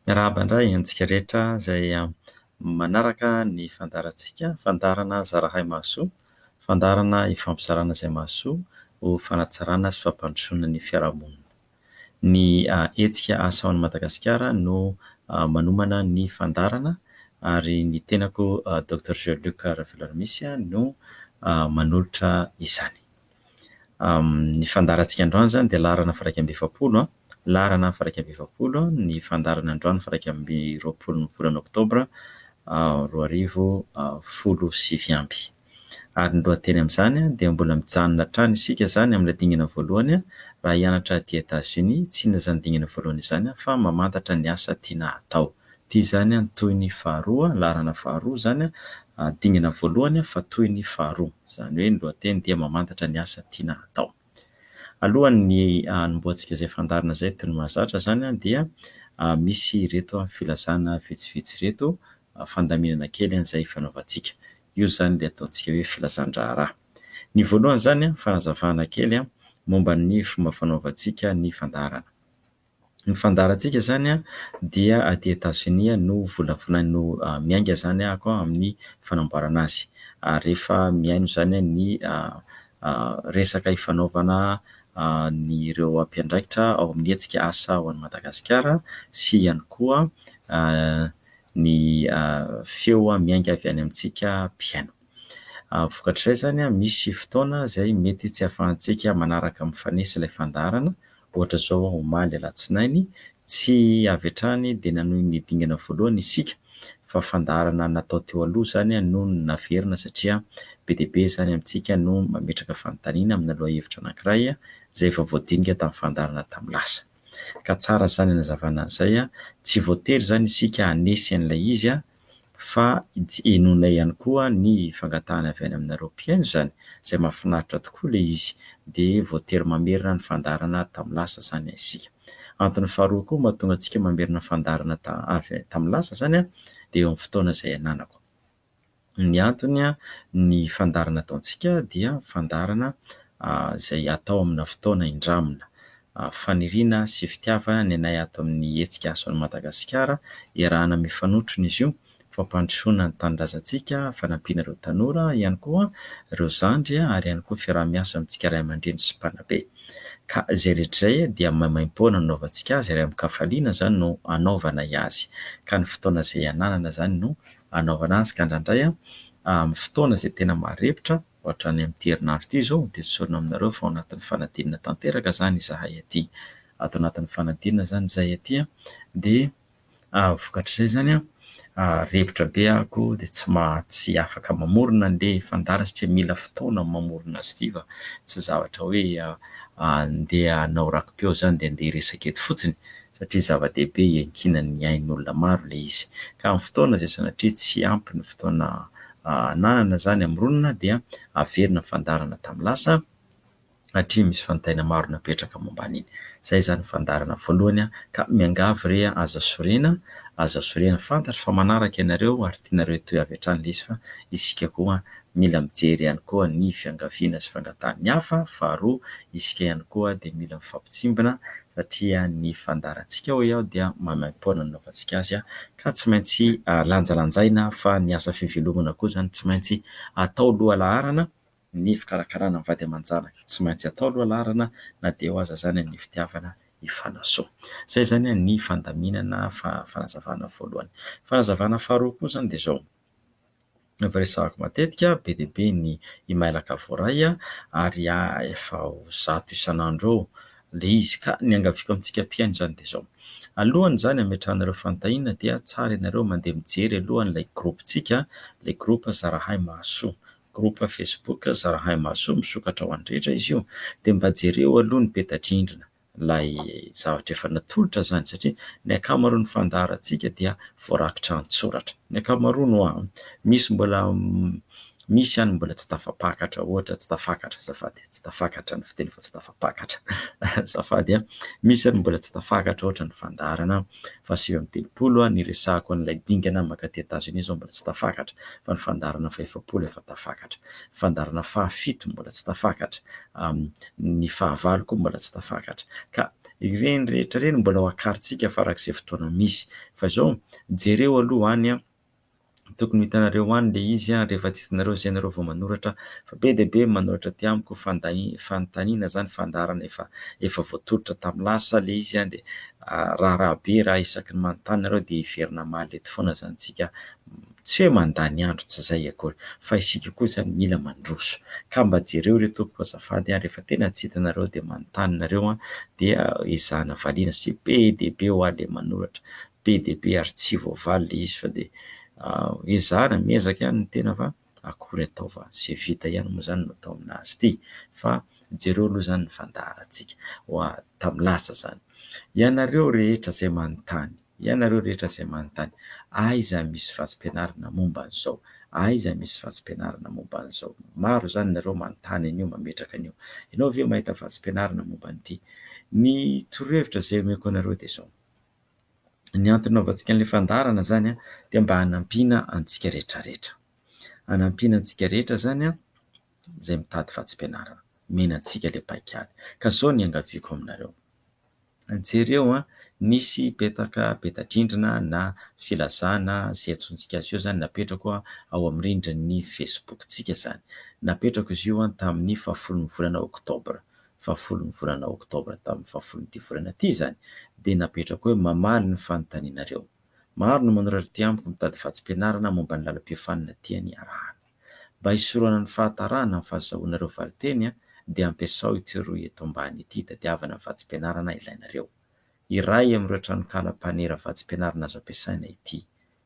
Miarahaba indray antsika rehetra izay manaraka ny fandaharantsika, fandaharana zarahay mahasoa, fandaharana ifampizarana izay mahasoa ho fanatsarana sy fampandrosoana ny fiarahamonina. Ny hetsika Asa ao Madagasikara no manomana ny fandaharana ary ny tenako Doctor Jean Luc Raveloaramisy no manolotra izany. Ny fandaharantsika androany izany dia laharana firaika amby efapolo, laharana firaika amby efapolo ny fandaharana androany firaika amby roapolo ny volana oktobra roa arivo folo sy sivy amby. Ary ny lohateny amin'izany dia mbola mijanona hatrany isika izany amin'ilay dingana voalohany raha hianatra aty Etats-Unis, tsy inona izany dingana voalohany izany fa mamantatra ny asa tiana hatao. Ity izany an, toy ny faharoa, laharana faharoa izany an, dingana voalohany an, fa toy ny faharoa. Izany hoe ny lohateny dia mamantatra ny asa tiana hatao. Alohan' ny hanombohantsika izay fandaharana izay toy ny mahazatra izany an, dia misy ireto filazana vitsivitsy ireto, fandaminana kely an' izay ifanaovantsika. Io izany ilay ataontsika hoe filazan-draharaha. Ny voalohany izany an, fanazavana kely an, momba ny fomba fanaovantsika ny fandaharana. Ny fandaharantsika izany dia aty Etazonia no volavolany no miainga izany ako amin'ny fanamboarana azy. Ary rehefa mihaino izany ny resaka ifanaovana an'ireo mpiandraikitra ao amin'ny hetsika Asa ho an'i Madagasikara sy ihany koa ny feo miainga avy any amintsika mpihaino. Vokatr'izay izany, misy fotoana izay mety tsy ahafahantsika manaraka mifanesy ilay fandaharana. Ohatra izao, omaly alatsinainy, tsy avy hatrany dia nanohy ny dingana voalohany isika, fa fandaharana natao teo aloha izany no naverina satria be dia be izany amintsika no mametraka fanontaniana amina lohahevitra anankiray izay efa voadinika tamin'ny fandaharana tamin'ny lasa. Ka tsara izany hanazavana an'izay, tsy voatery izany isika hanesy an'ilay izy fa henoina ihany koa ny fangatahana avy any aminareo mpihaino izany izay mahafinaritra tokoa ilay izy dia voatery mamerina ny fandaharana tamin'ny lasa izany isika. Antony faharoa koa mahatonga antsika mamerina fandaharana avy tamin'ny lasa izany dia eo amin'ny fotoana izay ananako. Ny antony ny fandaharana ataontsika dia fandaharana izay atao amina fotoana indramina Avo faniriana sy fitiavana ny anay ato amin'ny hetsika Ason'i Madagasikara, iarahana mifanotrona izy io, fampandrosoana ny tanindrazantsika, fanampiana ireo tanora, ihany koa ireo zandry ary ihany koa fiaraha-miasa amintsika ray aman-dreny sy mpanabe. Ka izay rehetra izay dia maimaim-poana no anaovantsika azy ary amin-kafaliana izany no anaovanay azy. Ka ny fotoana izay ananana izany no anaovana azy ka indraindray amin'ny fotoana izay tena maharepitra, Hoatrany amin'ity herinandro ity izao dia tsorina aminareo fa ao anatin'ny fanadinana tanteraka izany izahay aty. Ato anatin'ny fanadinana izany izahay aty dia vokatr'izay izany repotra be ako dia tsy maha tsy afaka mamorona an'ilay fandara satria mila fotoana ny mamorona azy ity fa tsy zavatra hoe andeha hanao rakipiao izany dia andeha hiresaka eto fotsiny satria zava-dehibe iankinan'ny ain'olona maro ilay izy. Ka amin'ny fotoana izay sanatria tsy ampy ny fotoana ananana izany hamoronana dia averina fandaharana tamin'ny lasa satria misy fanontaniana maro napetraka momba an'iny. Izay izany fandaharana voalohany ka miangavy re aza sorena, aza sorena, fantatro fa manaraka ianareo ary tianareo hitohy avy hatrany ilay izy fa isika koa mila mijery ihany koa ny fiangaviana sy fangatahan'ny hafa, faharoa isika ihany koa dia mila mifampitsimbina satria ny fandaharantsika hoy aho dia maimaimpoana nanaovantsika azy ka tsy maintsy lanjalanjaina fa ny asa fivelomana koa izany tsy maintsy atao lohalaharana, ny fikarakarana ny vady aman-janaka tsy maintsy atao lohalaharana na dia eo aza izany ny fitiavana hifanasoa. Izay izany ny fandaminana fanazavana voalohany. Fanazavana faharoa koa izany dia izao. Efa resahako matetika, be dia be ny imailaka voaray ary efa ho zato isan'andro eo ilay izy. Ka ny iangaviako amintsika mpihaino izany dia izao, alohan'izany hametrahanareo fanontaniana dia tsara ianareo mandeha mijery aloha an'ilay gropintsika, ilay groupe Zarahay Mahasoa, groupe Facebook Zarahay Mahasoa, misokatra ho an'ny rehetra izy io, dia mba jereo aloha ny peta-drindrina. ilay zavatra efa natolotra izany satria ny ankamaroan'ny fandaharantsika dia voarakitra an-tsoratra. Ny ankamaroany hoa an! Misy mbola misy ihany mbola tsy tafapakatra ohatra, tsy tafakatra azafady, tsy tafakatra ny fiteny fa tsy tafapakatra azafady an! Misy ary mbola tsy tafakatra ohatra ny fandaharana faha sivy amby telopolo aho niresahako an'ilay dingana maka aty Etazonia izao mbola tsy tafakatra fa ny fandaharana faha efapolo efa tafakatra, ny fandaharana faha fito mbola tsy tafakatra, ny faha valo koa mbola tsy tafakatra ka ireny rehetra ireny mbola ho akarintsika farak'izay fotoana misy fa izao jereo aloha any tokony ho hitanareo any le izy a rehefa tsy hitanareo zay nareo vao manoratra fa be dia be manoratra aty amiko fanontaniana zany fandaharana efa efa voatolotra tamin'ny lasa le izy a dia raharaha be raha isaky ny manontany nareo dia hiverina hamaly eto foana zany tsika tsy hoe mandany andro tsy zay akory fa isika koa zany mila mandroso ka mba jereo re tompoko azafady a rehefa tena tsy hitanareo dia manontany nareo a dia ezahana valiana satria be dia be ho ahy le manoratra be dia be ary tsy voavaly le izy fa dia ezahana miezaka ihany ny tena fa akory atao fa ze vita ihany moa zany no atao aminazy ty fa jereo aloha zany ny fandaharantsika hoa tam lasa zany ianareo rehetra zay manontany ianareo rehetra zay manontany aiza misy vatsimpianarana momba an'izao aiza misy vatsimpianarana momba an'izao maro zany nareo manontany an'io mametraka an'io ianao ve mahita vatsimpianarana momba an'ity ny torohevitra zay omeko anareo dia zao. Ny antony nanaovantsika an'ilay fandaharana izany dia mba hanampiana antsika rehetra rehetra. Hanampiana antsika rehetra izany izay mitady vatsim-pianarana. Omena antsika ilay paikady. Ka izao no iangaviako aminareo, jereo nisy petaka peta-drindrina na filazana izay iantsoantsika azy eo izany napetrako ao amin'ny rindrin'ny Facebook-tsika izany. Napetrako izy io tamin'ny fahafolon'ny volana oktobra. fahafolon'ny volana oktobra tamin'ny fahafolon'ity volana ity izany dia napetrako hoe mamaly ny fanontanianareo. Maro no manoratra ety amiko mitady vatsim-pianarana momba ny lalam-piofanana tiany harahana. Mba hisorohana ny fahatarahana amin'ny fahazahoana ireo valinteny dia ampiasao ity rohy eto ambany ity hitadiavana ny vatsim-pianarana ilainareo. Iray amin'ireo tranonkala mpanera vatsim-pianarana azo ampiasaina ity.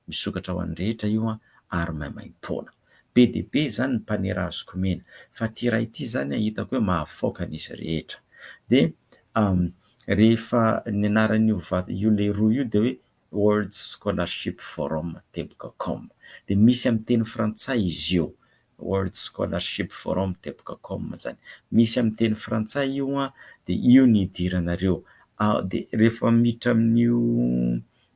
Misokatra ho an'ny rehetra io an, ary maimaim-poana. Be dia be izany ny mpanera azoko omena, fa ity iray ity izany an, hitako hoe mahafaoka an'izy rehetra. Dia rehefa ny anaran'io vata, io leroa io dia hoe World Scholarship Forum, teboka com. Dia misy amin'ny teny frantsay izy io. World Scholarship Forum teboka com izany. Misy amin'ny teny frantsay io an, dia io ny hidiranareo. Dia rehefa miditra amin'io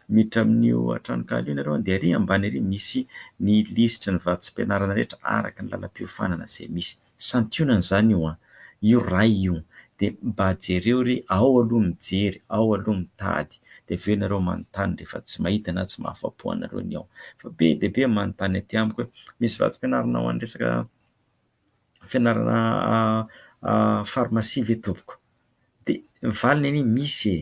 miditra amin'io tranonkala io ianareo dia ary ambany ary misy ny lisitry ny vatsim-pianarana rehetra araka ny lalam-piofanana izay misy. Santionany izany io an. io ray io de mba jereo re ao aloha mijery ao aloha mitady de avy eo ianareo manontany rehefa tsy mahita na tsy mahafapo anareo ny ao fa be dia be manontany aty amiko hoe misy vatsim-pianarana ho an'ny resaka fianarana pharmacie ve tompoko Dia ny valiny anie misy e!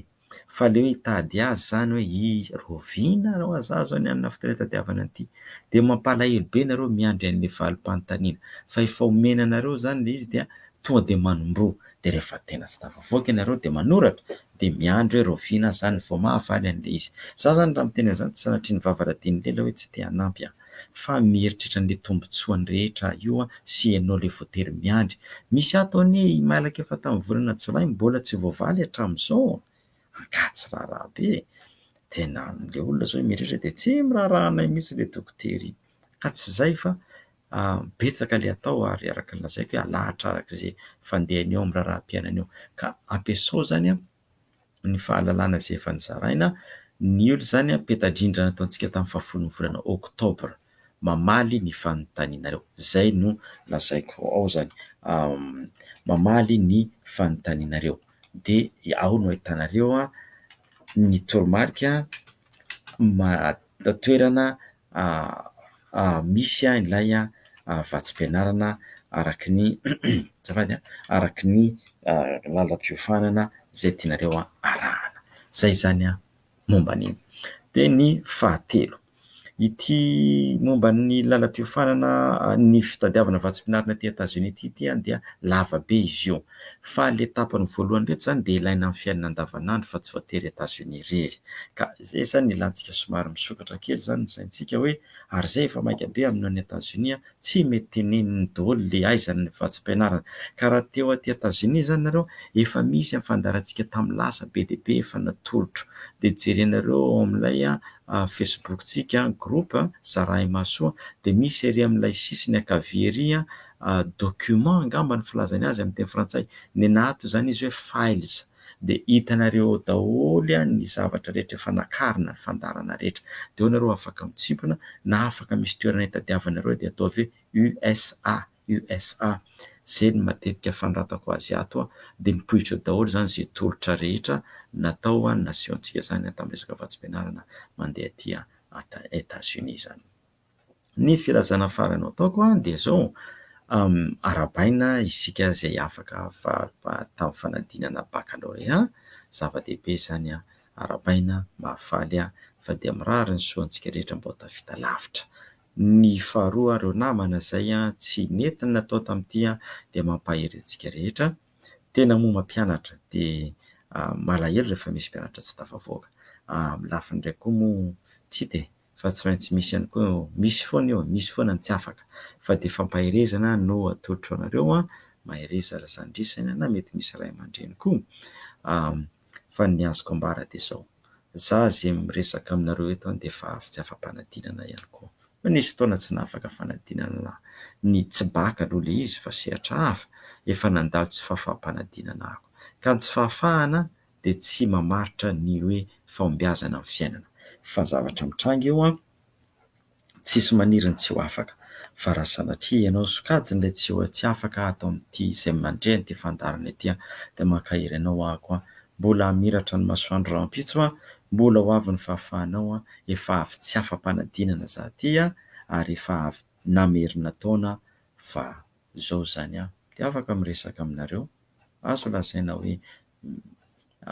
Fa aleo hitady azy izany hoe i Raovina na hoa za izao ny anona fotoana hitadiavana an'ity. Dia mampalahelo be nareo miandry an'ilay valim-panontaniana. Fa efa omena anareo izany ilay izy dia tonga dia manomboha. Dia rehefa tena tsy tafavoaka ianareo dia manoratra. Dia miandry hoe Raovina aza izany vao mahavaly an'ilay izy. Za izany raha miteny an'izany tsy sanatria ny vava radian'i Lela hoe tsy te hanampy aho. fa mieritreritra an'le tombotsoany rehetra io an sy ianao le voatery miandry. Misy ato anie i Mailaka efa tamin'ny volana jolay mbola tsy voavaly hatramin'izao an! Angaha tsy raharaha be e! Tena le olona zao mieritreritra dia tsy miraharaha anay mihitsy le dokotera iny. Ka tsy zay fa betsaka le atao ary araka ny lazaiko hoe alahatra araka ze fandehany eo amin'ny raharaham-piainany eo. Ka ampiasao zany an! ny fahalalana izay efa nozaraina. Ny ol izany peta-drindrina nataontsika tamin'ny fahafolon'ny volana oktobra mamaly ny fanontanianareo. Izay no lazaiko ao izany, mamaly ny fanontanianareo dia ao no ahitanareo ny toromarika. toerana misy ilay vatsim-pianarana araka ny azafady a, araka ny lalam-piofanana izay tianareo arahana. Izay izany momba an'iny. Dia ny fahatelo, ity momba ny lalam-piofanana ny fitadiavana vatsim-pianarana aty Etazonia aty dia lava be izy io Fa ilay etapany voalohany ireto izany dia ilaina amin'ny fiainana andavanandro fa tsy voatery Etats-Unis irery. Ka izay izany no ilantsika somary misokatra kely izany ny saintsika hoe ary izay efa maika be amin'io any Etats-Unis tsy mety teneniny daholo ilay aizany ny vatsim-pianarana. Ka raha te ho aty Etats-Unis izany nareo efa misy ny fandaharantsika tamin'ny lasa be dia be efa natolotro. Dia jerenareo ao amin'ilay Facebook-tsika groupe Zarahimahasoa dia misy ery amin'ilay sisiny ankavia ery document angamba ny filazany azy amin'ny teny frantsay, nenà ato izany izy hoe files dia hitanareo ao daholo ny zavatra rehetra efa nakarina, ny fandaharana rehetra. Dia ao ianareo afaka mitsimpona na afaka misy toerana hitadiavanareo dia ataovy hoe USA, USA, izay no matetika fanoratako azy ato dia mipoitra eo daholo izany izay tolotra rehetra natao ny nation-tsika izany tamin'ny resaka vatsim-pianarana mandeha aty Etats-Unis izany. Ny filazana farany ataoko dia izao, arahabaina isika izay afaka faly tamin'ny fanadinana bakalorea, zava-dehibe izany an, arahabaina, mahafaly ahy fa dia mirary ny soa antsika rehetra mba ho tafita lavitra. Ny faharoa ireo namana izay tsy nety ny natao tamin'ity dia mampahery antsika rehetra, tena moa mampianatra dia malahelo rehefa misy mpianatra tsy tafavoaka, amin'ny lafiny iray koa moa tsy dia fa tsy maintsy misy ihany koa misy foana io misy foana ny tsy afaka fa dia fampaherezana no atolotro anareo an mahereza ry zandrisany na mety misy ray aman-dreny koa fa ny azoko ambara dia zao za ze miresaka aminareo eto an dia efa avy tsy afa-panadinana ihany koa fa nisy fotoana tsy nahafaka fanadinana ny tsy bac aloha le izy fa sehatra hafa efa nandalo tsy fafa-panadinana ako ka ny tsy fahafahana dia tsy mamaritra ny hoe fahombiazana amin'ny fiainana. Fa zavatra mitranga eo an! Tsisy maniry ny tsy ho afaka. Fa raha sanatria ianao sokajin' ilay tsy ho tsy afaka ato amin'ity izay mandre an'ity fandaharana ity an! dia mankahery anao aho ko an! Mbola hamiratra ny masoandro rahampitso an! Mbola ho avy ny fahafahanao an! Efa avy tsy afa-panadinana za ty an! Ary efa avy namerina taona fa zao zany an! Dia afaka miresaka aminareo. Azo lazaina hoe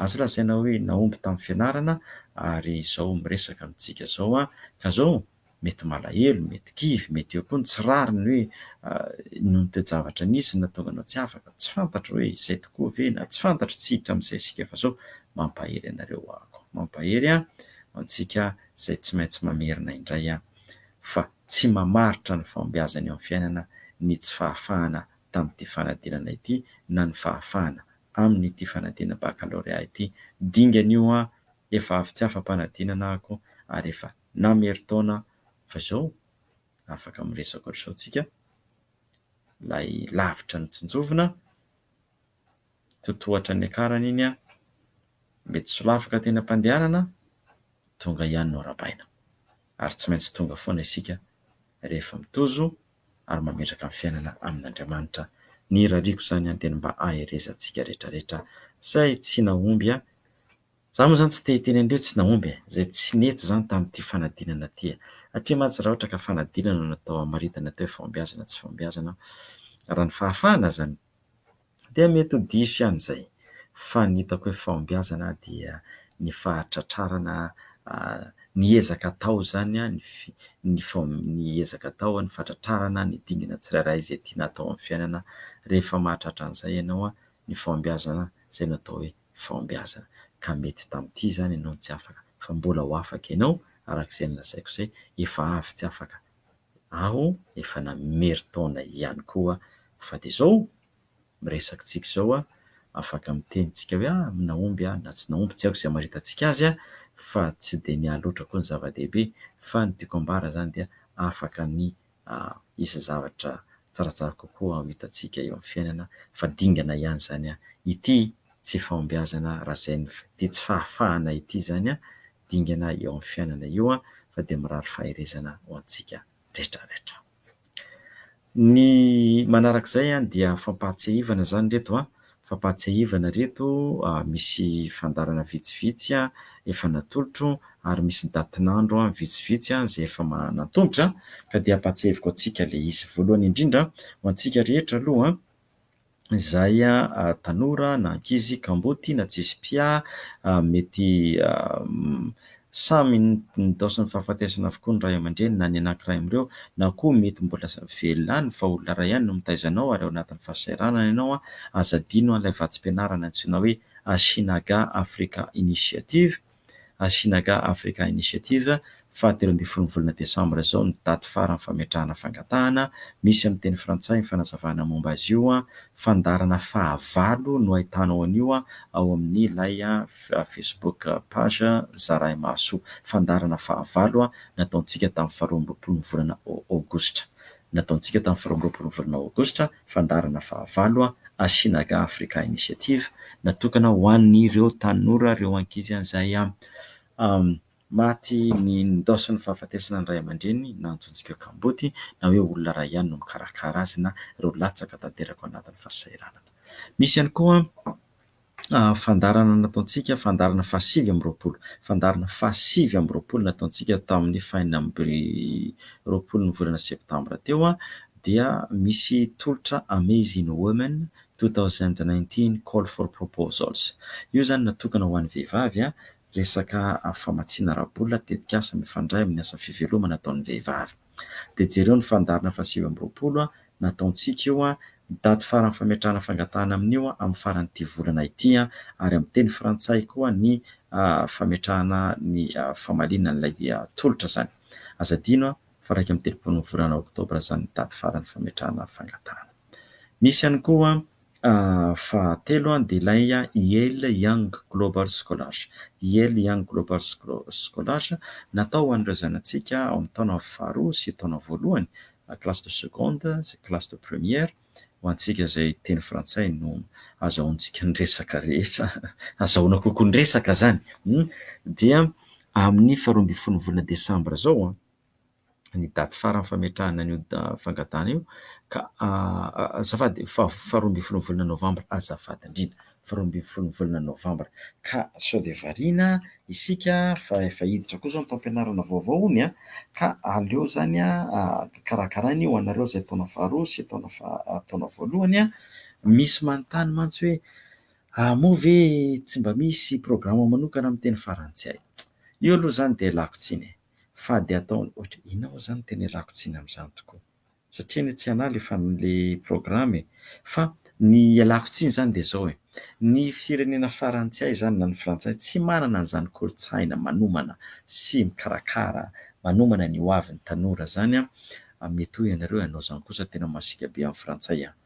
Azo lazaina hoe nahomby tamin'ny fianarana ary izao miresaka amintsika izao an! Ka izao mety malahelo, mety kivy, mety eo koa ny tsy rariny hoe noho ny toe-javatra nisy no nahatonga anao tsy afaka, tsy fantatro hoe izay tokoa ve na tsy fantatro tsy hiditra amin'izay isika fa izao mampahery anareo ho'ako. Mampahery an! Ho antsika izay tsy maintsy mamerina indray an! Fa tsy mamaritra ny fahombiazana eo amin'ny fiainana ny tsy fahafahana tamin'ity fanadinana ity na ny fahafahana amin'ity fanadinana bakalorea ity. Dingana io aho, efa avy tsy afa-panadinana ako ary efa namerin-taona fa izao afaka miresaka ohatr'izao tsika, ilay lavitra ny tsinjovina, totohatra niakarana iny aho, mety solafaka teny am-pandehanana, tonga ihany no arabaina. Ary tsy maintsy tonga foana isika rehefa mitozo. ary mametraka ny fiainana amin'Andriamanitra. Ny rariko izany aho dia ny mba haherezantsika rehetra rehetra izay tsy nahomby aho. Izaho moa izany tsy te hiteny an'ireo tsy nahomby e! izay tsy nety izany tamin'ity fanadinana ity e! satria mantsy raha ohatra ka fanadinana no natao hamaritana teo hoe fahombiazana tsy fahombiazana aho, raha ny fahafahana aza no Dia mety ho diso ihany izay, fa ny hitako hoe fahombiazana dia ny fahatratrarana ny ezaka atao izany, ny ny ezaka atao, ny fahatratrarana ny dingana tsirairay izay tiana hatao amin'ny fiainana, rehefa mahatratra an'izay ianao, ny fahombiazana, izay no atao hoe fahombiazana. Ka mety tamin'ity izany ianao no tsy afaka, fa mbola ho afaka ianao, araka izay nolazaiko izay, efa avy tsy afaka. aho efa namery taona ihany koa fa de zao miresaka tsika zao a afaka miteny tsika hoe ah nahomby aho na tsy nahomby tsy aiko ze hamaritantsika azy a fa tsy de ny ahy loatra koa ny zava-dehibe fa ny tiako ambara zany dia afaka ny hisy zavatra tsaratsara kokoa ho hitantsika eo am fiainana fa dingana ihany zany a ity tsy fahombiazana raha zay ity tsy fahafahana ity zany a dingana eo amin'ny fiainana io fa dia mirary faherezana ho antsika retraretra. Ny manaraka izay dia fampahatsiahivana izany ireto a, fampahatsiahivana ireto misy fandaharana vitsivitsy efa natolotro ary misy datin'andro vitsivitsy izay efa natolotra ka dia ampahatsiahiviko antsika ilay izy. Voalohany indrindra ho antsika rehetra aloha izay tanora na ankizy kamboty na tsisy mpià mety samy nitaoson'ny fahafatesana avokoa ny ray aman-dreny na ny anankiray amin'ireo na koa mety mbola velona any fa olona iray ihany no mitaiza anao ary ao anatin'ny fahasahiranana ianao, aza adino ilay vatsim-pianarana antsoina hoe Asinaga Africa Initiative. Asinaga Africa Initiative, fahatelo ambin'ny folon'ny volana desambra izao ny daty farany fametrahana fangatahana, misy amin'ny teny frantsay ny fanazavana momba azy io, fandaharana fahavalo no ahitanao an'io ao amin'ny ilay facebook page Zaraimahasoa, fandaharana fahavalo nataontsika tamin'ny faharoa amby roapolon'ny volana aogositra, nataontsika tamin'ny faharoa amby roapolon'ny volana aogositra. Fandaharana fahavalo, Asinaga Africa Initiative, natokana ho an'ireo tanora, ireo ankizy izay maty ny ndaosin'ny fahafatesana ny ray aman-dreniny na antsointsika hoe kamboty na hoe olona iray ihany no mikarakara azy na ireo latsaka tanteraka ao anatin'ny fahasahiranana. Misy ihany koa. fandaharana nataontsika, fandaharana fahasivy amby roapolo, fandaharana fahasivy amby roapolo nataontsika tamin'ny fahenina amby roapolo ny volana septambra teo dia misy tolotra Amazing Women two thousand nineteen call for proposals. Io izany natokana ho an'ny vehivavy, resaka famatsiana ara-bola, tetikasa mifandray amin'ny asa fivelomana ataon'ny vehivavy. Dia jereo ny fandaharana fahasivy amby roapolo nataontsika io, ny daty farany fametrahana fangatahana amin'io amin'ny faran'ity volana ity, ary amin'ny teny frantsay koa ny fametrahana ny famaliana an'ilay tolotra izany. Aza adino fa iraika amby telopolo ny volana oktobra izany ny daty farany fametrahana fangatahana. Misy ihany koa Fahatelo dia ilay Yale Young Global Scholars. Yale Young Global Scholars, natao ho an'ireo zanatsika ao amin'ny taona faharoa sy taona voalohany, classe de seconde sy classe de première, ho antsika izay teny frantsay no azahoantsika ny resaka rehetra, azahoana kokoa ny resaka izany. Dia amin'ny faharoa ambin'ny folo ny volana desambra izao. ny daty farany fametrahana an'io fangatahana io ka azafady faharoa ambin'ny folo volana novambra azafady indrindra faharoa ambin'ny folo ny volana novambra ka sao dia variana isika fa efa hiditra koa izao ny taom-pianarana vaovao hono an! ka aleo izany an karakaraina io ho anareo izay taona faharoa sy taona faha- taona voalohany an! misy manontany mantsy hoe ah moa ve tsy mba misy programa manokana amin'ny teny farantsay? io aloha izany dia lako tsiny e! Fady ataony ohatra e! Inona moa izany no tena ialako tsiny amin'izany tokoa? Satria anie tsy anah ilay programa e! Fa ny ialako tsiny izany dia izao e! Ny firenena farany tsy hay izany na ny frantsay tsy manana an'izany kolontsaina manomana sy mikarakara manomana ny hoavin'ny tanora izany an! Mety hoy ianareo hoe anao izany kosa tena masiaka be amin'ny frantsay an!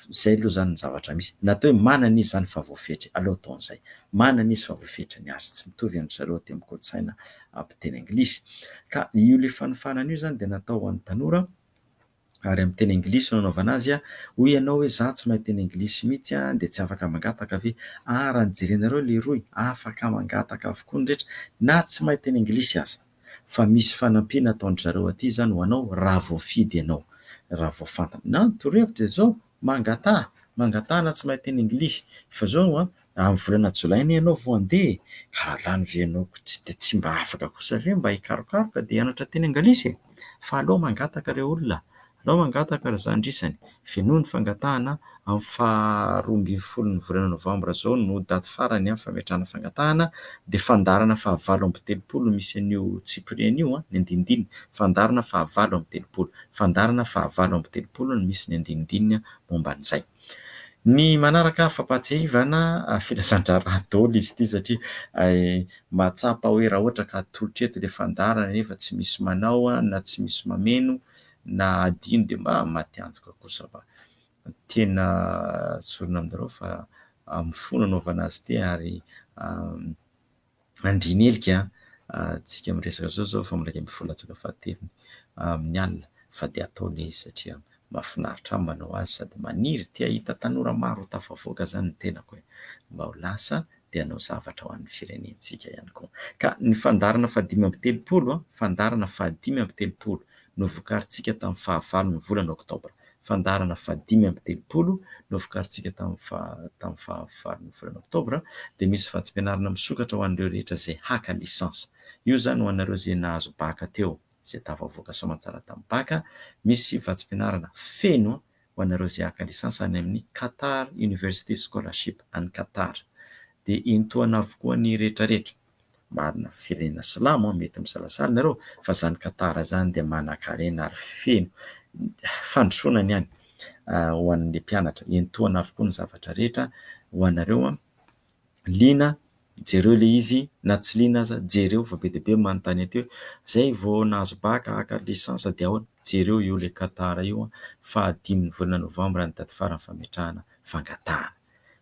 Izay aloha izany ny zavatra misy. Na atao hoe manana izy izany fa voafetra, aleo ataony izay. Manana izy fa voafetra ny azy. Tsy mitovy an-dry zareo aty amin'ny kolontsaina mpiteny anglisy. Ka io ilay fanofanana io izany dia natao ho an'ny tanora ary amin'ny teny anglisy no anaovana azy. Hoy ianao hoe izaho tsy mahay teny anglisy mihitsy dia tsy afaka mangataka ve? Ary raha ny jerenareo lehiroy, afaka mangataka avokoa ny rehetra na tsy mahay teny anglisy aza. fa misy fanampiana ataon-dry zareo aty izany ho anao raha voafidy ianao. Raha vao fantany. Na ny torohevitra dia izao, mangataha, mangataha na tsy mahay teny Anglisy. Efa izao an, amin'ny volana Jolay anie ianao vao handeha e! Ka halany ve ianao ko tsy dia tsy mba afaka kosa ve mba hikarokaroka dia hianatra teny Anglisy e! Fa aleo mangataka ireo olona Nao mangataka ry zandrisany, venoy ny fangatahana, amin'ny faha roa ambin'ny folo ny volana novambra izao no daty farany amin'ny fametrahana fangatahana, dia fandaharana faha valo amby telopolo no misy an'io tsipiriany io, ny andinindininy, fandaharana faha valo amby telopolo, fandaharana faha valo amby telopolo no misy ny andinindininy momba an'izay. Ny manaraka fampahatsiahivana filazandraharaha daholo izy ity satria mahatsapa hoe raha ohatra ka atolotra eto ilay fandaharana nefa tsy misy manao na tsy misy mameno na adino dia mba maty antoka kosa fa tena zorona aminareo fa amin'ny fo no anaovana azy ity ary andrianelika tsika miresaka zao zao fa miraika ambin'ny folo latsaka fahatelony amin'ny alina fa dia ataony izy satria mahafinaritra ahy manao azy sady maniry te hahita tanora maro ho tafavoaka zany ny tenako e! mba ho lasa dia hanao zavatra ho an'ny firenentsika ihany koa. Ka ny fandaharana fahadimy amby telopolo, fandaharana fahadimy amby telopolo novokarintsika tamin'ny fahavalon'ny volana oktobra, fandaharana fahadimy amby telopolo novokarintsika tamin'ny tamin'ny fahavalon'ny volana oktobra dia misy vatsim-pianarana misokatra ho an'ireo rehetra izay haka licence. Io izany ho anareo izay nahazo baka teo, izay tafavoaka soamantsara tamin'ny baka, misy vatsim-pianarana feno ho anareo izay haka lisansa any amin'ny Qatar University Scholarship any Qatar dia entohana avokoa ny rehetra rehetra marina firenena silamo mety misalasala ianareo fa izany Qatar izany dia manankarena ary feno fandrosoana ny any ho an'ny mpianatra entohana avokoa ny zavatra rehetra ho anareo Liana, jereo ilay izy, na tsy liana aza, jereo fa be dia be ny manontany an'ity hoe izay vao nahazo bac haka licence dia ahoana? Jereo io ilay Qatar io, fahadimy ny volana novambra ny daty farany fametrahana fangatahana.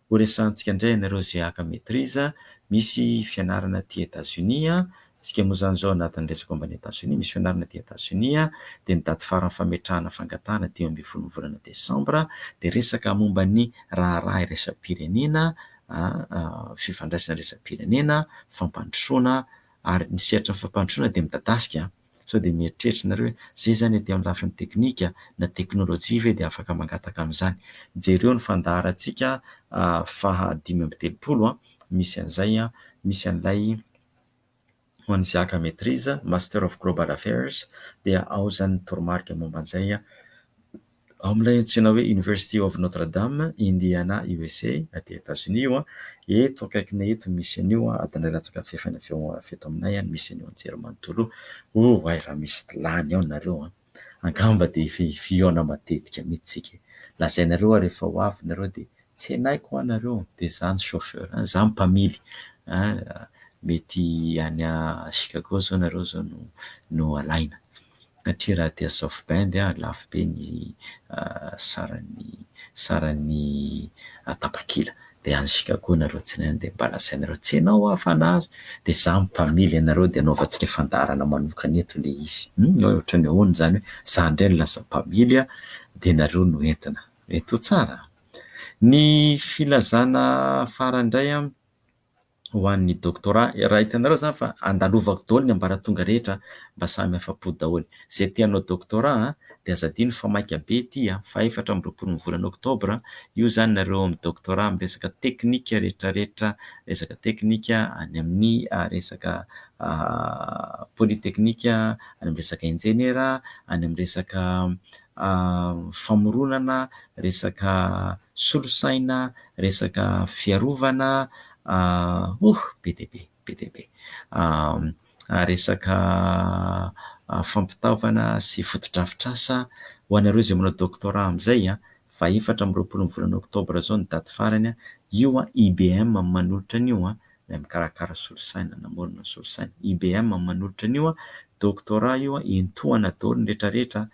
Horesahantsika indray ianareo izay haka maitrise, misy fianarana aty Etats-Unis Isika moa izany izao anatin'ny resaka momba an'i Etazonia, misy fianarana aty Etazonia, dia ny daty faran'ny fametrahana fangatahana dimy ambin'ny folon'ny volana desambra, dia resaka momba ny raharaha iraisam-pirenena, fifandraisana iraisam-pirenena, fampandrosoana, ary ny sehatry ny fampandrosoana dia midadasika sao dia mieritreritra ianareo hoe izay izany aty amin'ny lafiny teknika na teknolojia ve dia afaka mangataka an'izany. Jereo ny fandaharantsika faha dimy amby telopolo, misy an'izay, misy an'ilay Ho an'i Isaac Metriz, Master of Global Affairs, dia ao izany ny toromarika momba an'izay ao amin'ilay antsoina hoe University of Notre Dame, Indiana, USA, aty Etazonia io. Eto akaikinay eto no misy an'io, adin'iray latsaka fahefany avy eto aminay no misy an'io anjerimanontolo io. Oay raha misy lany ao nareo an! Angamba dia efa ifiona matetika mitsy tsika e! Lazainareo ary efa ho avy nareo dia tsenaiko hoa nareo dia za ny chauffeur an! Za mpamily an! Mety any Chicago zao nareo zao no no alaina satria raha aty South Bend an lafo be ny saran'ny saran'ny tapakila. dia anzika koa nareo tsinainy dia mba lazainareo tsy enao hoa fa nahazo dia za mpamily anareo dia anaovantsika ny fandaharana manokana eto le izy hum hoe otrany ahoana zany hoe za ndray no lasa mpamily a dia nareo no entina mety ho tsara a! ny filazana farany ndray a ho an'ny doctorat, raha hitanareo zany fa andalovako daholo ny ambaratonga rehetra mba samy afa-po daholo. Izay te hanao doctorat a, dia aza adino fa maika be ity a, fahefatra amby roapolo ny volana octobre, io zany nareo ao amin'ny doctorat amin'ny resaka teknika rehetrarehetra, resaka teknika any amin'ny resaka polytechnique, any amin'ny resaka injeniera, any amin'ny resaka famoronana, resaka solosaina, resaka fiarovana, oh! be dia be, be dia be, resaka fampitaovana sy fotodrafitrasa ho anareo izay manao doctorat amin'izay, faha efatra amby roapolo ny volana oktobra izao ny daty farany, io IBM manolotra an'io ilay mikarakara solosaina, namorona solosaina. IBM no manolotra an'io doctorat io, entaohana daholo ny rehetrarehetra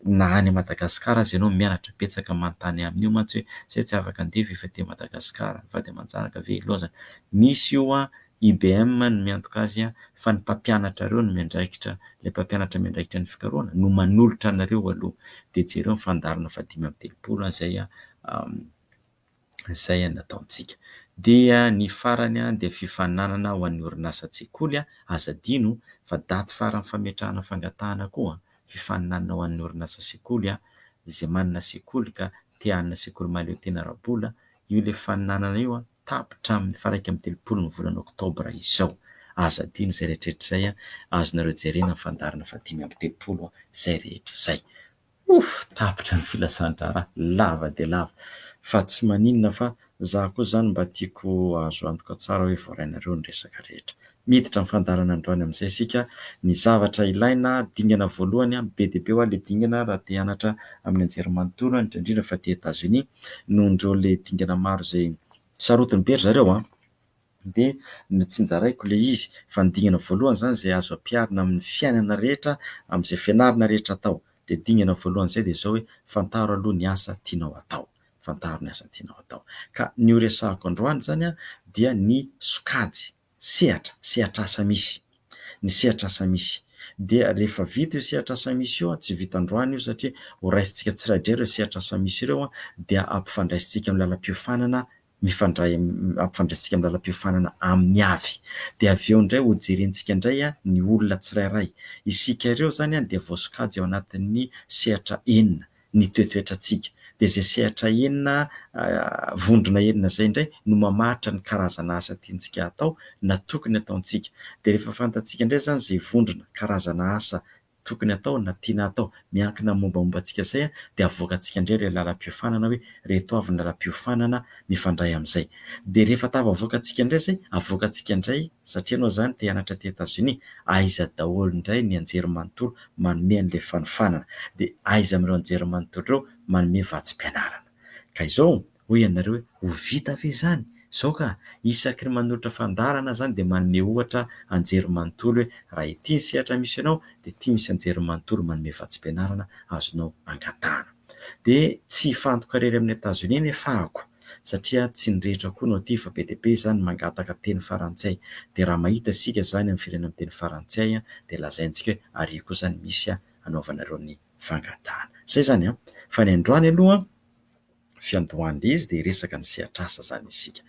na any Madagasikara aza ianao mianatra, betsaka manontany amin'io mantsy hoe izay tsy afaka handeha ve efa aty Madagasikara, ny vady aman-janaka ve ilaozana. Misy io IBM no miantoka azy fa ny mpampianatrareo no miandraikitra, ilay mpampianatra miandraikitra ny fikarohana no manolotra anareo aloha dia jereo ny fandaharana fahadimy amby telopolo izay izay nataontsika. Dia ny farany dia fifaninanana ho an'ny orinasa an-tsekoly, aza adino fa daty faran'ny fametrahana fangatahana koa, fifaninanana ho an'ny orinasa an-tsekoly, izay manana sekoly ka te hanana sekoly mahaleo tena ara-bola, io ilay fifaninanana io tapitra amin'ny faha iraika amby telopolo ny volana oktobra izao, aza adino izay rehetra rehetra izay, azonareo jerena ny fandaharana faha dimy amby telopolo izay rehetra izay. Ouff tapitra ny filasan-draharaha, lava dia lava, fa tsy maninona fa za koa zany mba tiako ahazo antoka tsara hoe voarainareo ny resaka rehetra. Miditra ny fandaharana androany amin'izay isika, ny zavatra ilaina, dingana voalohany an, be dia be hoa le dingana raha te hianatra amin'ny anjerimanontolo an, indrindra indrindra fa aty Etats-Unis, nohon'ireo le dingana maro izay sarotiny be ry zareo an. Dia notsinjaraiko ilay izy fa ny dingana voalohany izany izay azo ampiharina amin'ny fiainana rehetra, amin'izay fianarana rehetra atao. Ilay dingana voalohany izay dia izao hoe, fantaro aloha ny asa tianao atao. Fantaro ny asa tianao atao. Ka ny horesahako androany izany dia ny sokajy, sehatra, sehatr'asa misy. Ny sehatr'asa misy. Dia rehefa vita io sehatr'asa misy io, tsy vita androany io satria horaisintsika tsiraidraika ireo sehatr'asa misy ireo, dia ampifandraisintsika amin'ny lalam-piofanana mifandray ampifandraisintsika amin'ny lalam-piofanana amin'ny avy. Dia avy eo indray hojerentsika indray ny olona tsirairay. Isika ireo izany dia voasokajy ao anatin'ny sehatra enina, ny toetoetrantsika. Dia izay sehatra enina, vondrona enina izay indray no mamaritra ny karazana asa tiantsika hatao na tokony hataontsika. Dia rehefa fantatsika indray izany izay vondrona, karazana asa tokony hatao na tiana hatao miankina amin'ny mombamomba antsika izay dia avoakantsika indray ilay lalam-piofanana hoe reto avy ny lalam-piofanana mifandray amin'izay dia rehefa tafavoakantsika indray izay avoakantsika indray satria ianao izany te hianatra aty Etazonia aiza daholo indray ny anjerimanontolo manome an'ilay fanofanana dia aiza amin'ireo anjerimanontolo ireo manome vatsim-pianarana ka izao Hoy ianareo hoe, ho vita ve izany? Izao ka, isaky ny manolotra fandaharana izany dia manome ohatra anjerimanontolo hoe raha ity ny sehatra misy anao dia ity misy anjerimanontolo manome vatsim-pianarana azonao angatahana. Dia tsy hifantoka irery amin'ny Etazonia ny fahako satria tsy ny rehetra koa no aty fa be dia be izany mangataka teny farantsay. Dia raha mahita isika izany amin'ny firenena miteny farantsay dia lazaintsika hoe ary kosa ny misy hanaovanareo ny fangatahana. Izay izany an! Fa ny androany aloha. fiandohan'ilay izy dia hiresaka ny sehatr'asa izany isika.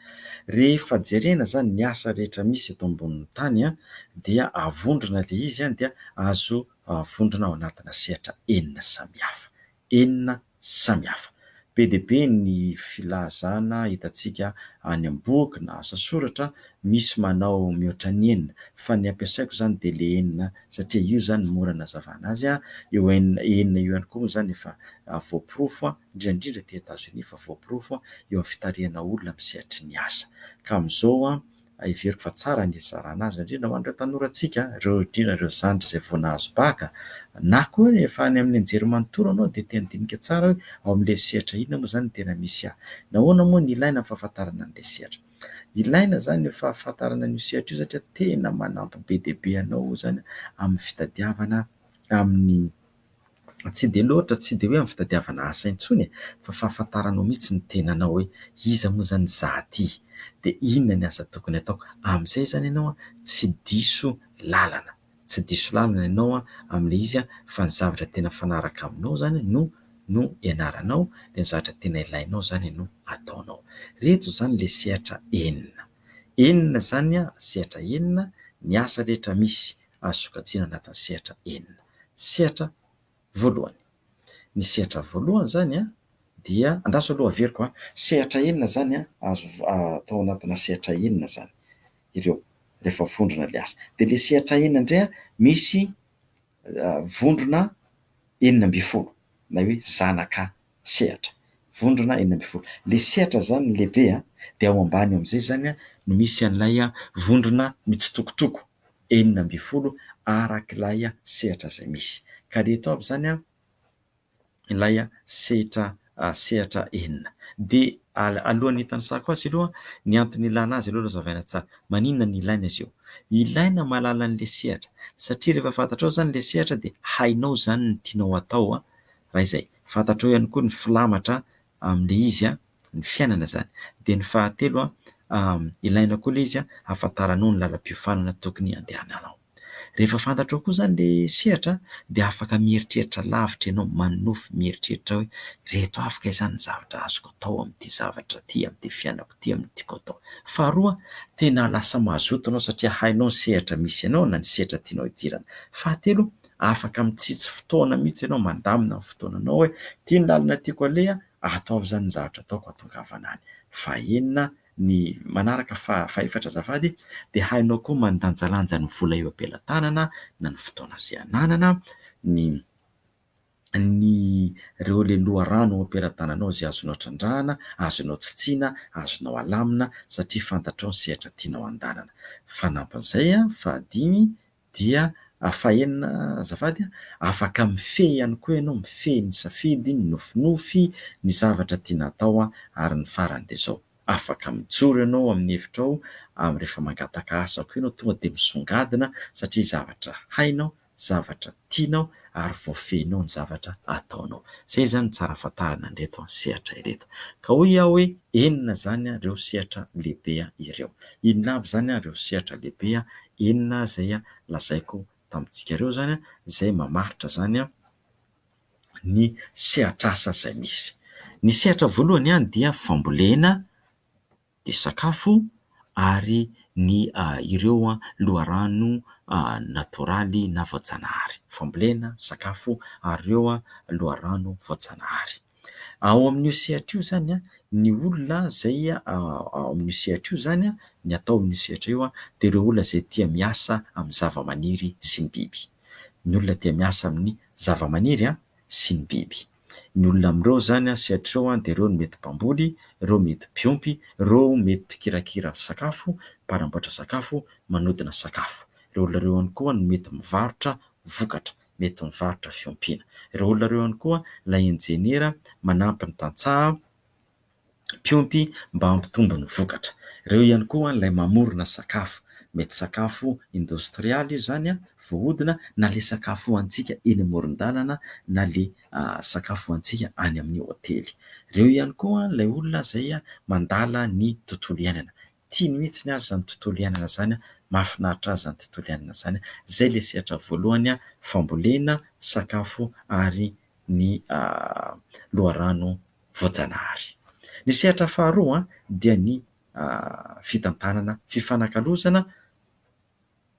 Rehefa jerena izany ny asa rehetra misy eto ambonin'ny tany dia avondrona ilay izy dia azo avondrona ao anatina sehatra enina samihafa. Enina samihafa. Be dia be ny filazana hitantsika any am-boky na asa soratra misy manao mihoatra ny enina fa ny ampiasaiko izany dia ilay enina satria io izany no mora anazavana azy. Io enina io ihany koa moa izany efa voaporofo. indrindra indrindra aty Etazonia efa voaporofo eo amin'ny fitarihana olona amin'ny sehatry ny asa. Ka amin'izao heveriko fa tsara ny hizarana azy indrindra ho an'ireo tanorantsika, ireo indrindra ireo zandry izay vao nahazo bacc na koa hoe efa any amin'ny nijery manontolo ianao dia te handinika tsara hoe ao amin'ilay sehatra inona moa izany no tena misy ahy. Nahoana moa no ilaina ny fahafantarana an'ilay sehatra? Ilaina izany io fahafantarana an'io sehatra io satria tena manampy be dia be anao izany amin'ny fitadiavana amin'ny tsy dia loatra, tsy dia hoe amin'ny fitadiavana asa intsony e, fa fahafantaranao mihitsy ny tenanao hoe iza moa izany izaho ity? Dia inona ny asa tokony hataoko? Amin'izay izany ianao tsy diso lalana. Tsy diso lalana ianao amin'ilay izy fa ny zavatra tena mifanaraka aminao izany no no ianaranao, dia ny zavatra tena ilainao izany no ataonao. Ireto izany ilay sehatra enina. Enina izany, sehatra enina, ny asa rehetra misy azo sokajiana anatin'ny sehatra enina. Sehatra voalohany. Ny sehatra voalohany izany dia, andraso aloha averiko a, sehatra enina izany a, azo atao anatina sehatra enina izany ireo rehefa vondrona ilay asa. Dia ilay sehatra enina indray a, misy vondrona enina ambin'ny folo na hoe zanaka sehatra, vondrona enina ambin'ny folo. Ilay sehatra izany no lehibe an, dia ao ambany eo amin'izay izany an no misy an'ilay vondrona mitsitokotoko enina ambin'ny folo arak'ilay sehatra izay misy. Ka ilay eto avy izany an, ilay sehatra sehatra enina. Dia alohan'ny hitanisako azy aloha, ny antony ilana azy aloha razavaina tsara. Maninona no ilaina izy io? Ilaina mahalala an'ilay sehatra, satria rehefa fantatrao izany ilay sehatra dia hainao izany ny tianao hatao an, raha izay fantatrao ihany koa ny filamatra amin'ilay izy ny fiainana izany. Dia ny fahatelo, ilaina koa ilay izy hahafantaranao ny lalam-piofanana tokony handehananao. Rehefa fantatrao koa izany ilay sehatra dia afaka mieritreritra lavitra ianao, manonofy mieritreritra hoe ireto avy kay izany ny zavatra azoko atao amin'ity zavatra ity, amin'ity fiainako ity, amin'ny tiako atao. Faharoa, tena lasa mazoto ianao satria hainao ny sehatra misy anao na ny sehatra tianao hidirana. Fahatelo, afaka mitsitsy fotoana mihitsy ianao mandamina ny fotoananao hoe ity ny lalana tiako aleha ataovy izany ny zavatra ataoko hatongavana any fahenina ny manaraka fa fahefatra azafady dia hainao koa mandanjalanja ny vola eo am-pelatanana na ny fotoana izay ananana ny ny ireo le loharano eo am-pelatananao izay azonao trandrahana azonao tsitsiana azonao alamina satria fantatrao ny sehatra tianao handalana fanampin'izay a fahadimy Dia fahenina azafady a, afaka mifehy ihany koa ianao, mifehy ny safidy, ny nofinofy, ny zavatra tiana atao a, ary ny farany dia izao, afaka mijoro ianao amin'ny hevitrao amin'ny rehefa mangataka asa koa ianao, tonga dia misongadina satria zavatra hainao, zavatra tianao ary voafehinao ny zavatra ataonao. Izay izany ny tsara fantarina an'ireto sehatra ireto. Ka hoy aho hoe enina izany ireo sehatra lehibe ireo. Inona avy izany ireo sehatra lehibe enina izay lazaiko tamintsika ireo izany izay mamaritra izany ny sehatr'asa izay misy. Ny sehatra voalohany dia fambolena, dia sakafo ary ny ireo loharano natoraly na voajanahary. Fambolena, sakafo ary ireo loharano voajanahary. Ao amin'io sehatra io izany ny olona izay ao amin'io sehatra io izany, ny atao amin'io sehatra io dia ireo olona izay tia miasa amin'ny zavamaniry sy ny biby. Ny olona tia miasa amin'ny zavamaniry sy ny biby. Ny olona amin'ireo izany sehatra ireo dia ireo no mety mpamboly, ireo mety mpiompy, ireo mety mpikirakira sakafo, mpanamboatra sakafo, manodina sakafo. Ireo olona ireo ihany koa no mety mivarotra vokatra. mety mivarotra fiompiana. Ireo olona ireo ihany koa ilay injeniera manampy ny tantsaha mpiompy mba hampitombo ny vokatra. Ireo ihany koa ilay mamorona sakafo, mety sakafo indostrialy io izany voahodina na ilay sakafo hohanintsika eny amoron-dalana na ilay sakafo hohanintsika any amin'ny hotely. Ireo ihany koa ilay olona izay mandala ny tontolo iainana. Tiany mihitsy aza izany tontolo iainana izany an, mahafinaritra azy izany tontolo iainana izany, izay ilay sehatra voalohany an, fambolena, sakafo ary ny loharano voajanahary. Ny sehatra faharoa an, dia ny fitantanana, fifanakalozana,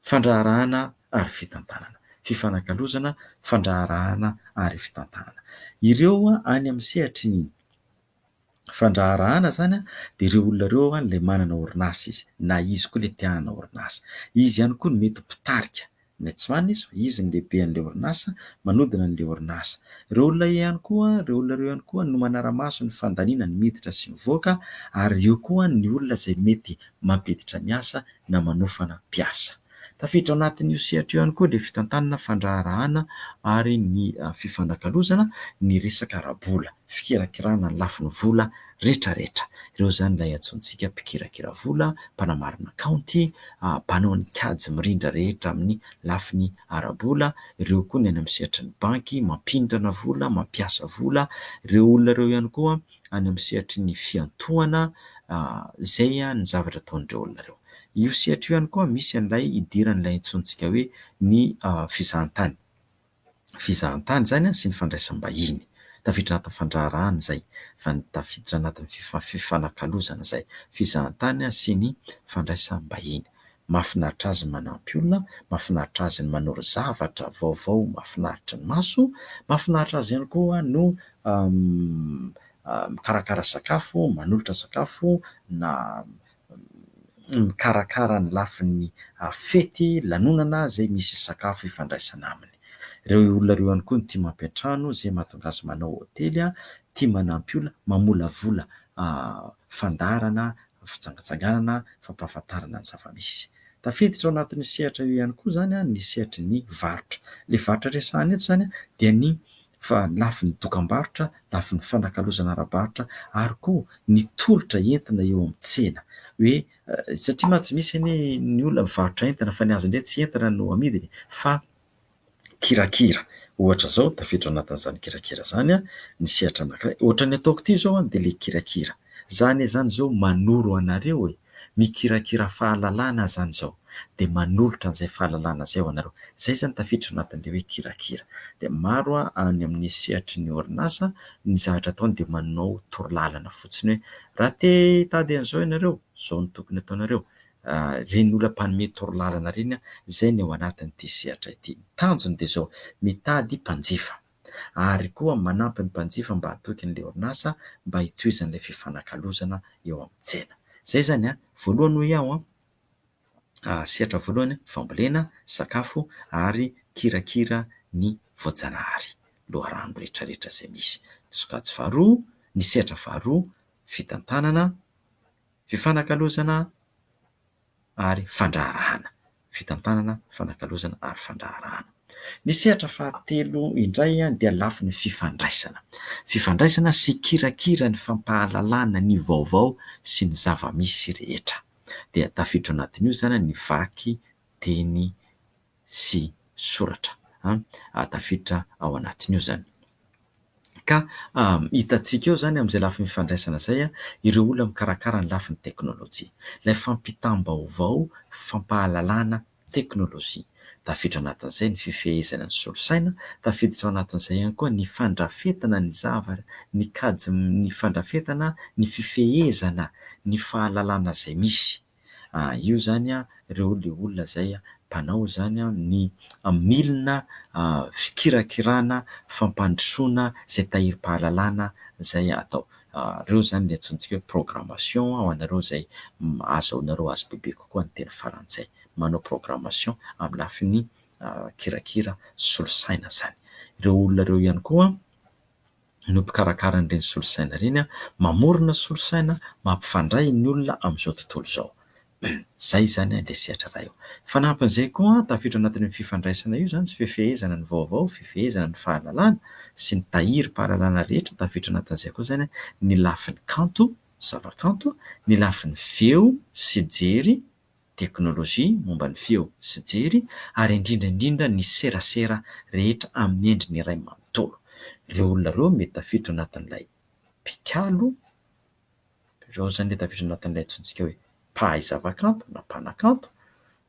fandraharahana ary fitantanana, fifanakalozana, fandraharahana ary fitantanana. Ireo any amin'ny sehatry ny. fandraharahana izany dia ireo olona ireo an ilay manana orinasa izy na izy koa ilay te hanana orinasa. Izy ihany koa no mety ho mpitarika ny tsy marina izy fa izy no lehibe an'ilay orinasa manodina an'ilay orinasa. Ireo olona ihany koa ireo olona ireo ihany koa no manara-maso ny fandaniana ny miditra sy mivoaka ary eo koa ny olona izay mety mampiditra ny asa na manofana mpiasa. Tafiditra ao anatin'io sehatra io ihany koa ilay fitantanana fandraharahana ary ny fifanakalozana ny resaka ara-bola. fikirakirana ny lafiny vola retraretra. Ireo izany ilay antsointsika mpikirakira vola, mpanamarina kaonty, mpanao ny kajy mirindra rehetra amin'ny lafiny ara-bola, ireo koa ny any amin'ny sehatry ny banky mampindrana vola, mampiasa vola, ireo olona ireo ihany koa any amin'ny sehatry ny fiantohana izay ny zavatra ataon'ireo olona ireo. Io sehatra io ihany koa misy an'ilay idiran'ilay antsointsika hoe ny fizahantany. fizahantany izany sy ny fandraisam-bahiny. Tafiditra anatin'ny fandraharahana izay fa tafiditra anatin'ny fifanakalozana izay fizahantany sy ny fandraisam-bahiny. Mahafinaritra azy ny manampy olona, mahafinaritra azy ny manoro zavatra vaovao mahafinaritra ny maso, mahafinaritra azy ihany koa no mikarakara sakafo, manolotra sakafo na mikarakara ny lafiny fety, lanonana izay misy sakafo ifandraisana aminy. Ireo olona ireo ihany koa no tia mampiantrano izay mahatonga azy manao hotely, tia manampy olona, mamolavola fandaharana, fijangajangana, fampahafantarana ny zava-misy. Tafiditra ao anatin'io sehatra io ihany koa izany ny sehatry ny varotra. Ilay varotra resahina eto izany dia ny fa ny lafiny dokam-barotra, lafiny fanakalozana ara-barotra ary koa ny tolotra entina eo amin'ny tsena hoe satria mantsy misy anie ny olona mivarotra entana fa ny azy indray tsy entana no amidiny fa kirakira. Ohatra izao, tafiditra ao anatin'izany kirakira izany ny sehatra anankiray. Ohatra ny ataoko ity izao dia ilay kirakira. Izaho anie izany izao manoro anareo e! Mikirakira fahalalana aho izany izao dia manolotra an'izay fahalalana izay ho anareo. Izay izany tafiditra ao anatin'ilay hoe kirakira. Dia maro any amin'ny sehatry ny orinasa ny zavatra ataony dia manao torolalana fotsiny hoe raha te hitady an'izao ianareo, izao no tokony ataonareo. Ireny olona mpanome torolalana ireny izay ny ao anatin'ity sehatra ity. Ny tanjony dia izao, mitady mpanjifa. ary koa manampy ny mpanjifa mba hatoky an'ilay orinasa mba hitohizan'ilay fifanakalozana eo amin'ny tsena. Izay izany an! Voalohany hoy aho an! sehatra voalohany fambolena, sakafo ary kirakira ny voajanahary, loharano rehetra rehetra izay misy. Ny sokajy faharoa, ny sehatra faharoa fitantanana fifanakalozana ary fandraharahana, fitantanana, fifanakalozana ary fandraharahana. Ny sehatra fahatelo indray dia lafiny fifandraisana, fifandraisana sy kirakira ny fampahalalana ny vaovao sy ny zava-misy rehetra dia tafiditra ao anatin'io izany ny vaky teny. sy soratra an, tafiditra ao anatin'io izany. Ka hitantsika eo izany amin'izay lafiny fifandraisana izay ireo olona mikarakara ny lafiny teknolojia. Ilay fampitam-baovao, fampahalalana teknolojia. Tafiditra anatin'izay ny fifehezana ny solosaina, tafiditra ao anatin'izay ihany koa ny fandrafetana ny zavatra, ny kajy, ny fandrafetana ny fifehezana ny fahalalana izay misy. io izany ireo ilay olona izay mpanao izany ny milina fikirakirana fampandrosoana izay tahirim-pahalalana izay atao. Ireo izany ilay antsointsika hoe programmation ho anareo izay ahazoanareo azy bebe kokoa ny teny frantsay. Manao programmation amin'ny lafiny kirakira solosaina izany. Ireo olona ireo ihany koa no mpikarakara an'ireny solosaina ireny, mamorona solosaina mampifandray ny olona amin'izao tontolo izao. Izay izany ilay sehatra iray eo. Fanampin'izay koa, tafiditra ao anatin'io fifandraisana io izany sy fifehezana ny vaovao, fifehezana ny fahalalana sy ny tahirim-pahalalana rehetra, tafiditra anatin'izay koa izany ny lafiny kanto, zavakanto, ny lafiny feo sy jery, teknolojia momba ny feo sy jery ary indrindra indrindra ny serasera rehetra amin'ny endriny iray manontolo. Ireo olona ireo mety tafiditra anatin'ilay mpikalo, ireo izany mety tafiditra anatin'ilay antsointsika hoe mpahay zavakanto na mpanakanto,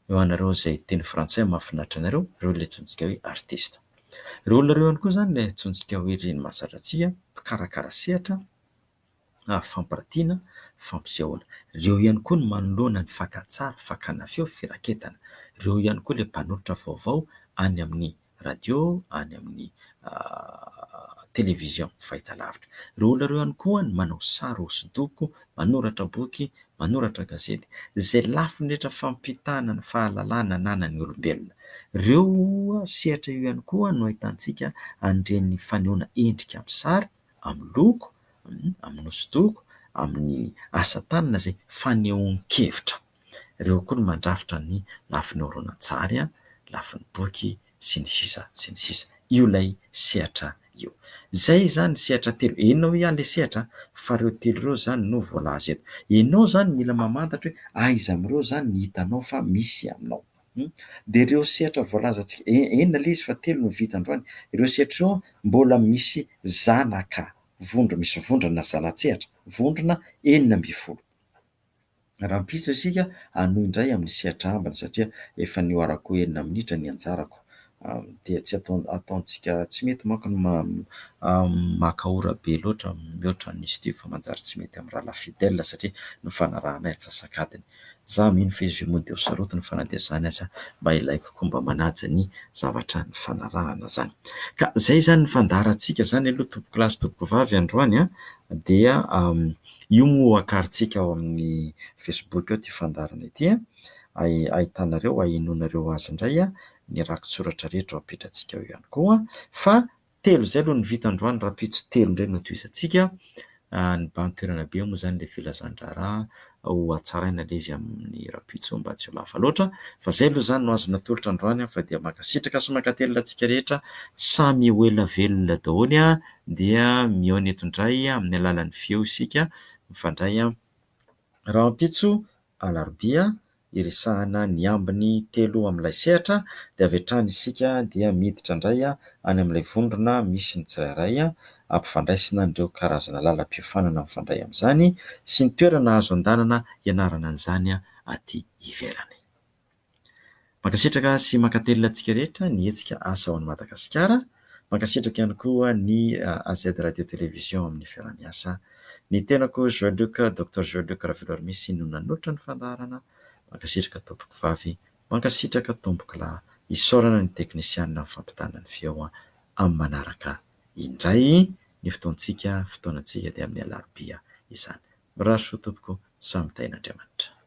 ny ho anareo izay teny frantsay mahafinaritra anareo, ireo ilay antsointsika hoe artista. Ireo olona ireo ihany koa izany ilay antsointsika hoe reny mahazatra tsihy, mpikarakara sehatra, ary fampiratiana, fampisehoana. Ireo ihany koa no manoloana ny fakantsary, fakana feo, firaketana. Ireo ihany koa ilay mpanolotra vaovao any amin'ny radio, any amin'ny television fahitalavitra. Ireo olona ireo ihany koa no manao sary hosodoko, manoratra boky, manoratra gazety. Izay lafiny rehetra fampitana ny fahalalana ananan'ny olombelona. Ireo sehatra io ihany koa no ahitantsika an'ireny fanehoana endrika amin'ny sary. amin'ny loko, amin'ny hosodoko, amin'ny asa tanana izay fanehoan-kevitra. Ireo koa no mandrafitra ny lafiny horonantsary, lafiny boky sy ny sisa sy ny sisa. Io ilay sehatra io. Izay izany sehatra telo, henonao eo ihany ilay sehatra fa ireo telo ireo izany no voalaza eto. Ianao izany mila mamantatra hoe aiza amin'ireo izany ny hitanao fa misy aminao. Hum. Dia ireo sehatra voalazantsika, en, enina ilay izy fa telo no vita androany, ireo sehatra ireo mbola misy zanaka vondro, misy vondrona zana-tsehatra, vondrona enina ambin'ny folo. Rahampitso isika hanohy indray amin'ny sehatra ambiny satria efa nihoarako enina minitra ny anjarako. dia tsy ataontsika tsy mety manko ny maka ora be loatra mihoatra ny izy ity fa manjary tsy mety amin'ny rahalahy fidèle satria nifanarahana ny antsasak'adiny. Za mino fa izy io moa dia ho sarotiny fa na dia izany aza mba ilaiko koa mba manaja ny zavatra nifanarahana izany. Ka izay izany ny fandaharantsika izany aloha tompokolahy sy tompokovavy androany an! dia io moa ho akarintsika ao amin'ny facebook ao ity fandaharana ity an! ahitanareo, ahenoanareo azy indray an! ny rakitsoratra rehetra ao apetrantsika ao ihany koa fa telo izay aloha no vita androany rahampitso telo indray no tohizantsika ny bandy toerana be moa izany ilay filazan-draharaha ho hatsaraina ilay izy amin'ny rahampitso mba tsy ho lava loatra fa izay aloha izany no azo natolotra androany fa dia mankasitraka sy mankatelina antsika rehetra samy ho ela velona daholo dia mihaona eto indray amin'ny alalan'ny feo isika mifandray rahampitso Alarobia iresahana ny ambiny telo amin'ilay sehatra dia avy hatrany isika dia miditra indray any amin'ilay vondrona misy ny tsirairay ampifandraisina an'ireo karazana lalam-piofanana mifandray amin'izany sy ny toerana azo andanana ianarana an'izany aty ivelany. Mankasitraka sy mankatelina antsika rehetra ny hetsika Asa ao an'i Madagasikara. Mankasitraka ihany koa ny AZ Radio Télévision amin'ny fiaraha-miasa. Ny tenako Joël Luc, Docteur Joël Luc Ravelormisy no nanoatra ny fandaharana. Mankasitraka Tompokovavy, mankasitraka Tompokolahy. Isaorana ny teknisianina amin'ny fampitana ny feo. Amin'ny manaraka indray ny fotoantsika, fotoanantsika dia amin'ny alarobia izany. Mirary soa Tompoko, samy tahin'Andriamanitra.